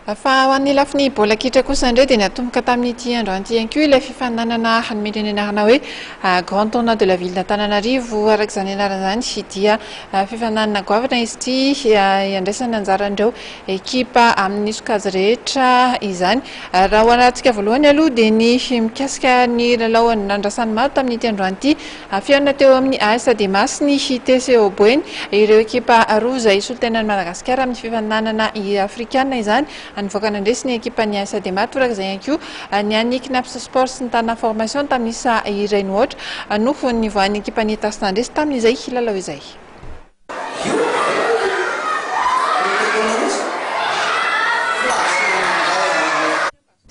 Fa ho an'ny lafiny baolina kitra kosa indray dia natomboka tamin'ity androany ity ihany koa ilay fifaninanana hanome ny anarana hoe Grand Tournoi de la Ville d'Antananarivo araka izany anarana izany dia fifaninanana goavana izy ity hiandraisana anjaran'ireo ekipa amin'ny sokajy rehetra izany. Raha ho alatsika voalohany aloha dia ny mikasika ny lalao nandrasan'ny maro tamin'ity androany ity. Afihaonina teo amin'ny AS Dema's ny TCO Boeny. Ireo ekipa roa izay solontenan'i Madagasikara amin'ny fifaninanana afrikana izany. Nivoaka nandresy ny ekipan'ny AS Dema toraka izay ihany koa ny an'ny Cnaps Sport sy ny Tana Formation tamin'ny isa iray nohoatra no nivoahan'ny ekipan'ny Etas nandresy tamin'izay lalao izay.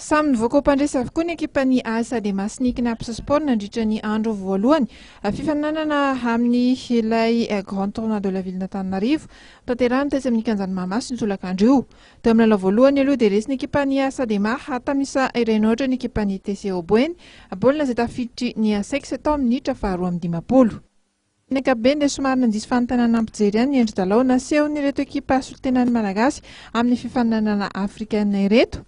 Samy nivoaka ho mpandresy avokoa ny ekipan'ny as Ade Masiniky Naples Sport nandritra ny andro voalohany fifaninanana amin'ny ilay Grand Tournoi de la Ville-n'Antananarivo tanterahina tetsy amin'ny kianjan'i Mahamasina io tolakandro io. Teo amin'ny lalao voalohany aloha dia resy ny ekipan'ny as Ademar tamin'ny isa iray nohatra ny ekipan'ny TC Oboeny, baolina izay tafiditry ny Asex tao amin'ny minitra faharoa amby dimampolo. Ny ankapobeny dia somary nandiso fanontaniana nampijery ihany ny endri-dalao nasehon'ireto ekipa solontenan'ny Malagasy amin'ny fifaninanana afrikanina ireto.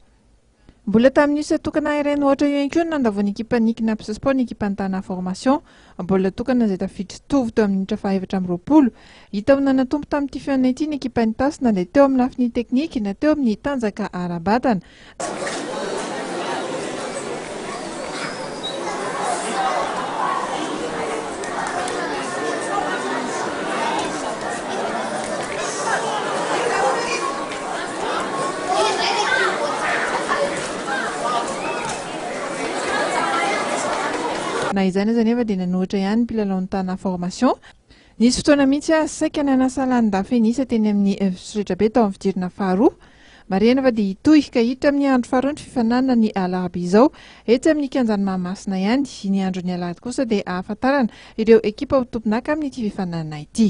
Mbola tamin'io set tokana iray nohaotra io ihany koa no nandavoan'ny ekipan'ny Cnaps Sport ny ekipan'ny Tana Formation, baolina tokana izay tafiditra tovo teo amin'ny minitra fahaefatra amby roapolo. Hita ho nanatombo tamin'ity fihaonana ity ny ekipan'ny Tasy na dia teo amin'ny lafiny teknika na teo amin'ny tanjaka ara-batana. Na izany aza anefa dia nanohitra ihany ny mpilalaon'ny Tana Formation. Nisy fotoana mihitsy aho saika nanasa lanin-dafenisa teny amin'ny Fitsoretrabe tao amin'ny fidirana faharoa. Marihana fa dia hitohy ka hiditra amin'ny andro faharoa ny fifaninanana ny alarobia izao etsy amin'ny kianjan'i Mahamasina ihany. Ny andron'ny alahady kosa dia hahafantarana ireo ekipa ho tompon'aka amin'ity fifaninanana ity.